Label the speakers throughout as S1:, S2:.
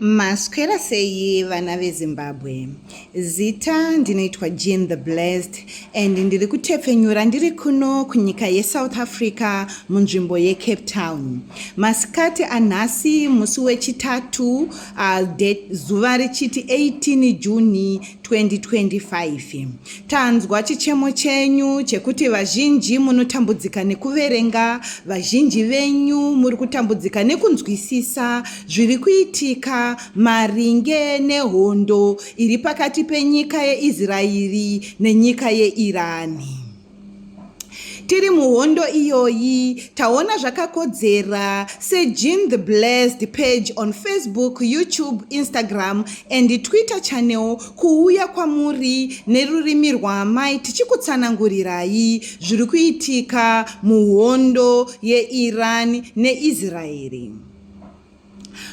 S1: Maswera sei vana veZimbabwe? Zita ndinoitwa Jean the Blessed and ndiri kutepfenyura ndiri kuno kunyika yeSouth Africa munzvimbo yeCape Town. Masikati anhasi musi wechitatu uh, zuva richiti 18 June 2025 tanzwa chichemo chenyu chekuti vazhinji munotambudzika nekuverenga vazhinji venyu muri kutambudzika nekunzwisisa zviri kuitika maringe nehondo iri pakati penyika yeisraeri nenyika yeirani tiri muhondo iyoyi taona zvakakodzera sejean the blessed page on facebook youtube instagram and twitter channel kuuya kwamuri nerurimi rwaamai tichikutsanangurirai zviri kuitika muhondo yeiran neisraeri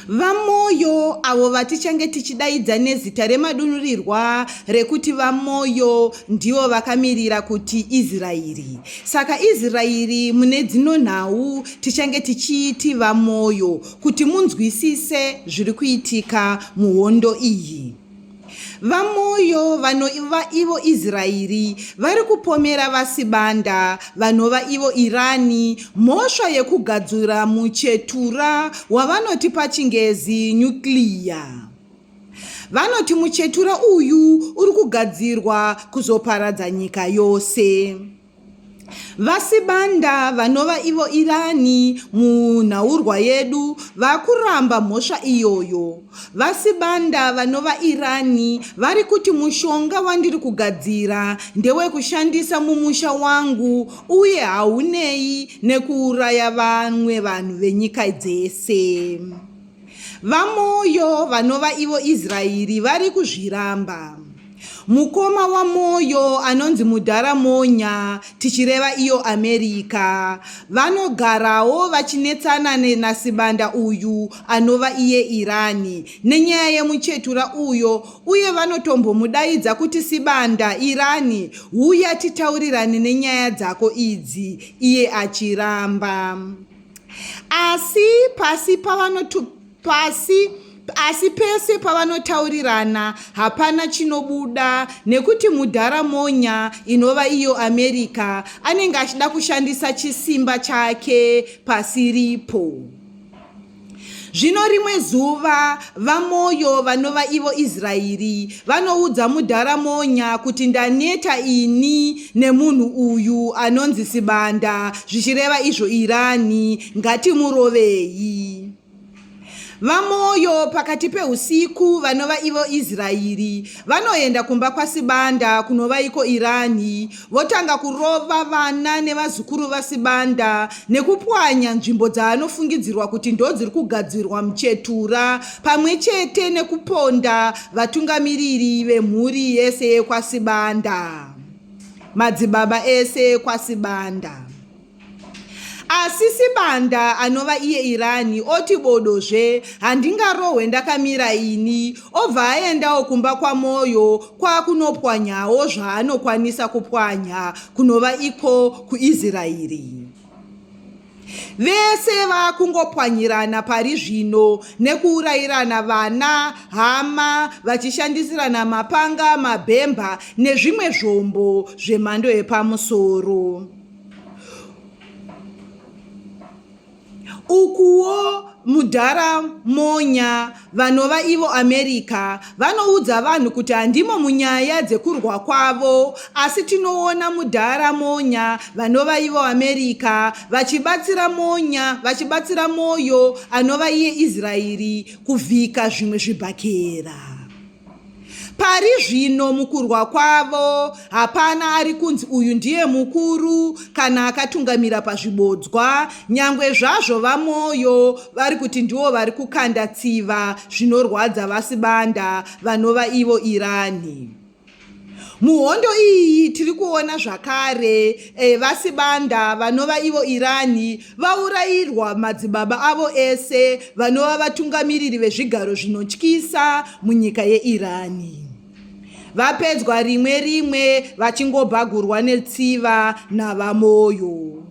S1: VaMoyo, avo vatichange tichidaidza nezita remadunhurirwa rekuti VaMoyo, ndivo vakamirira kuti Israeri. Saka Israeri mune dzino nhau tichange tichiiti VaMoyo kuti munzwisise zviri kuitika muhondo iyi. VaMoyo vanova ivo Israeri vari kupomera VaSibanda vanova ivo Irani mhosva yekugadzura muchetura wavanoti pachingezi nyukliya. Vanoti muchetura uyu uri kugadzirwa kuzoparadza nyika yose. VaSibanda vanova ivo Irani munhaurwa yedu vakuramba mhosva iyoyo. VaSibanda vanova Irani vari kuti mushonga wandiri kugadzira ndewekushandisa mumusha wangu uye haunei nekuuraya vamwe vanhu venyika dzese. VaMoyo vanova ivo Israeri vari kuzviramba. Mukoma waMoyo anonzi Mudhara Monya, tichireva iyo America, vanogarawo vachinetsana naSibanda uyu anova iye Irani nenyaya yemuchetura uyo uye vanotombomudaidza kuti Sibanda, Irani, huya titaurirane nenyaya dzako idzi, iye achiramba. asi pasi pavanotu pasi asi pese pavanotaurirana hapana chinobuda nekuti mudhara monya inova iyo america anenge achida kushandisa chisimba chake pasiripo Zvino rimwe zuva vaMoyo vanova ivo Israeri vanoudza mudhara Monya kuti ndaneta ini nemunhu uyu anonzi Sibanda zvichireva izvo Irani ngatimurovei. VaMoyo pakati pehusiku vanova ivo Israeri vanoenda kumba kwaSibanda kunovaiko Irani votanga kurova vana nevazukuru vasibanda nekupwanya nzvimbo dzaanofungidzirwa kuti ndodziri kugadzirwa muchetura pamwe chete nekuponda vatungamiriri vemhuri yese yekwasibanda madzibaba ese ekwasibanda asi sibanda anova iye irani oti bodo zve handingarohwe ndakamira ini obva aendawo kumba kwamoyo kwakunopwanyawo zvaanokwanisa kupwanya kunova iko kuisraeri vese vakungopwanyirana pari zvino nekuurayirana vana hama vachishandisirana mapanga mabhemba nezvimwe zvombo zvemhando yepamusoro ukuwo mudhara monya vanova ivo america vanoudza vanhu kuti handimo munyaya dzekurwa kwavo asi tinoona mudhara monya vanova ivo america vachibatsira monya vachibatsira mwoyo anova iye israeri kuvhika zvimwe zvibhakera Pari zvino mukurwa kwavo hapana ari kunzi uyu ndiye mukuru kana akatungamira pazvibodzwa, nyangwe zvazvo VaMoyo vari kuti ndivo vari kukanda tsiva zvinorwadza VaSibanda vanova ivo Irani. Muhondo iyi tiri kuona zvakare e, vasibanda vanova ivo Irani vaurayirwa madzibaba avo ese vanova vatungamiriri vezvigaro zvinotyisa munyika yeIrani. Vapedzwa rimwe rimwe vachingobhagurwa netsiva navamoyo.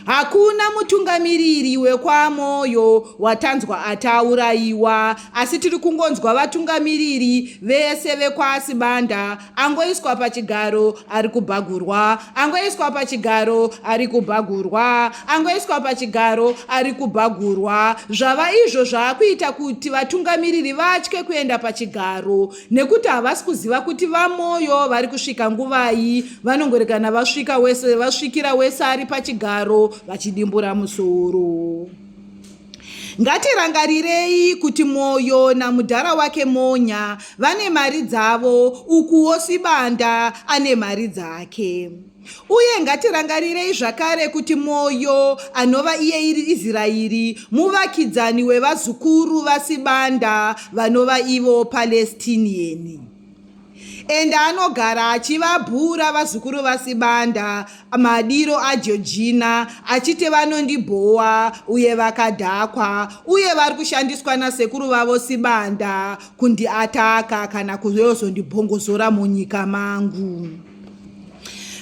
S1: Hakuna mutungamiriri wekwaMoyo watanzwa atauraiwa asi tiri kungonzwa vatungamiriri vese vekwaSibanda. Angoiswa pachigaro ari kubhagurwa, angoiswa pachigaro ari kubhagurwa, angoiswa pachigaro ari kubhagurwa. Zvava izvo zvakuita kuti vatungamiriri vatye kuenda pachigaro. nekuti havasi kuziva kuti vamoyo vari kusvika nguvai vanongorekana vasvika wese vasvikira wese ari pachigaro vachidimbura musoro ngatirangarirei kuti mwoyo namudhara wake monya vane mari dzavo ukuwo sibanda ane mari dzake Uye ngatirangarirei zvakare kuti mwoyo anova iye iri Israeri, muvakidzani wevazukuru vaSibanda vanova ivo Palestinian. Ende anogara achivabhura vazukuru vaSibanda madiro aJojina achiti vanondibhowa uye vakadhakwa uye vari kushandiswa nasekuru vavo Sibanda kundiataka kana kuyozondibhongozora munyika mangu.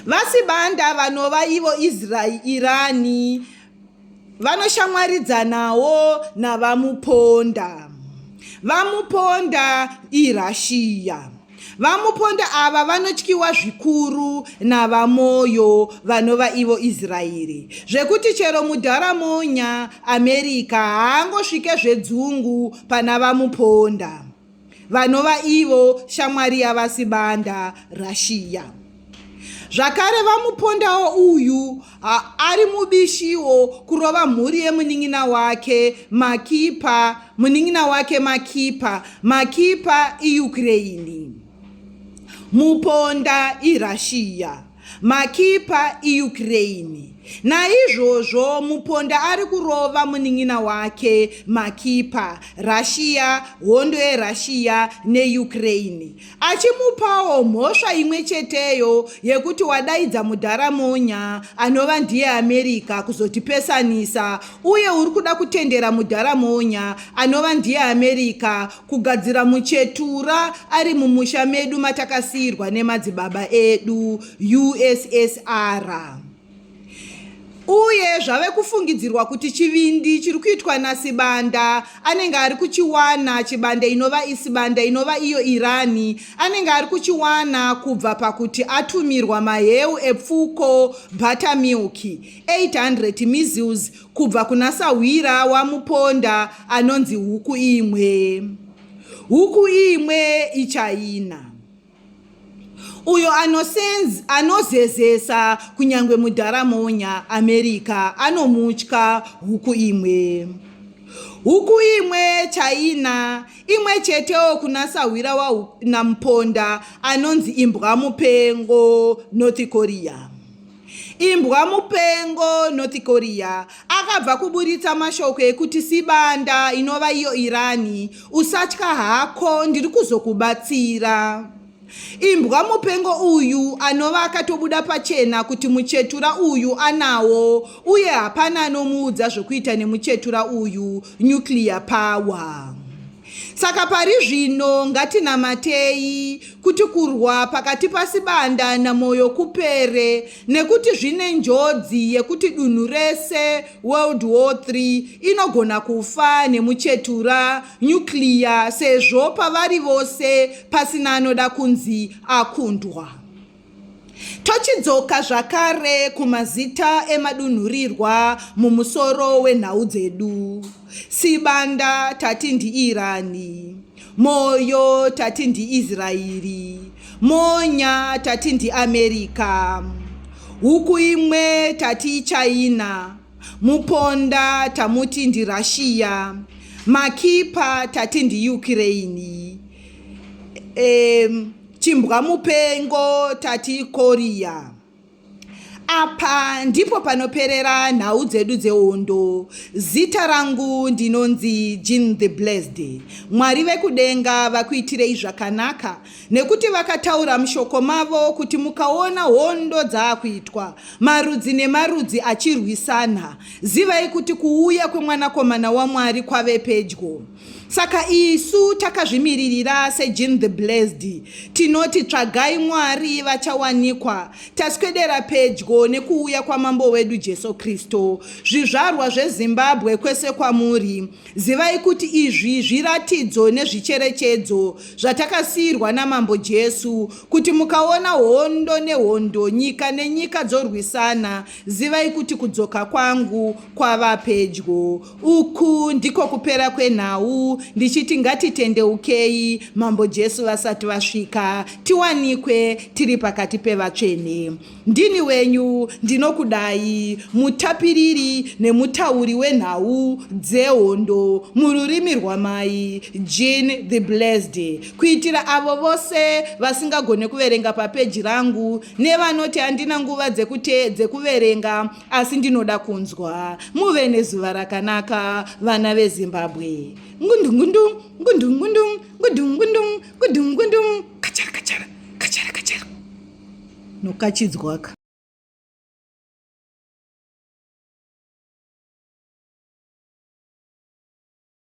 S1: VaSibanda vanova ivo Israirani vanoshamwaridzanawo naVaMuponda. VaMuponda iRussia. VaMuponda ava vanotyiwa zvikuru naVaMoyo vanova ivo Israeri zvekuti chero mudharamonya America haangosvike zvedzungu pana VaMuponda. vanova ivo shamwari yavasibanda russia zvakare vamupondawo uyu ari mubishiwo kurova mhuri yemunin'ina wake makipa munin'ina wake makipa makipa iukraini muponda irussia makipa iukraine naizvozvo muponda ari kurova munin'ina wake makipa russia hondo yerussia neukraine achimupawo mhosva imwe cheteyo yekuti wadaidza mudhara monya anova ndiye america kuzotipesanisa uye uri kuda kutendera mudhara monya anova ndiye america kugadzira muchetura ari mumusha medu matakasiirwa nemadzibaba edu ussr uye zvave kufungidzirwa kuti chivindi chiri kuitwa nasibanda anenge ari kuchiwana chibanda inova isibanda inova iyo irani anenge ari kuchiwana kubva pakuti atumirwa maheu epfuko buttermilk 800 measles Kubva kuna sahwira wamuponda anonzi huku imwe. Huku imwe ichaina. Uyo anosenz, anozezesa kunyange mudhara monya America anomutya huku imwe. Huku imwe chaina imwe chetewo kuna sahwira waNamuponda anonzi imbwa mupengo North Korea. Imbwa mupengo North Korea akabva kuburitsa mashoko ekuti Sibanda inova iyo Irani usatya hako ndiri kuzokubatsira. Imbwa mupengo uyu anova akatobuda pachena kuti muchetura uyu anawo uye hapana anomuudza zvokuita nemuchetura uyu nuclear power. Saka pari zvino ngatinamatei kuti kurwa pakati pasibanda namoyo kupere nekuti zvine njodzi yekuti dunhu rese world war 3 inogona kufa nemuchetura nyukliya sezvo pavari vose pasina anoda kunzi akundwa Tochidzoka zvakare kumazita emadunhurirwa mumusoro wenhau dzedu. Sibanda tati ndiIrani, Moyo tati ndiIsraeri, Monya tati ndiAmerica, huku imwe tati iChina, Muponda tamuti ndiRussia, Makipa tati ndiUkraine. Um, Chimbwa mupengo tati koriya. Apa ndipo panoperera nhau dzedu dzehondo. Zita rangu ndinonzi Jean the Blessed. Mwari vekudenga vakuitirei zvakanaka nekuti vakataura mushoko mavo kuti mukaona hondo dzaakuitwa marudzi nemarudzi achirwisana, zivai kuti kuuya kwemwanakomana waMwari kwave pedyo. Saka isu takazvimiririra seJean the Blessed tinoti tsvagai Mwari vachawanikwa, taswedera pedyo nekuuya kwaMambo wedu Jesu Kristu. Zvizvarwa zveZimbabwe kwese kwamuri, zivai kuti izvi zviratidzo nezvicherechedzo zvatakasiirwa naMambo Jesu kuti mukaona hondo nehondo, nyika nenyika dzorwisana, zivai kuti kudzoka kwangu kwava pedyo. Uku ndiko kupera kwenhau ndichiti ngatitendeukei mambo Jesu vasati vasvika tiwanikwe tiri pakati pevatsvene. Ndini wenyu ndinokudai mutapiriri nemutauri wenhau dzehondo mururimi rwamai Jean the Blessed kuitira avo vose vasingagone kuverenga papeji rangu nevanoti handina nguva dzekuverenga asi ndinoda kunzwa muve nezuva rakanaka vana vezimbabwe ngundungundu ngundungundu ngundungundu ngundungundu kachara kachara kachara kachara nokachidzwaka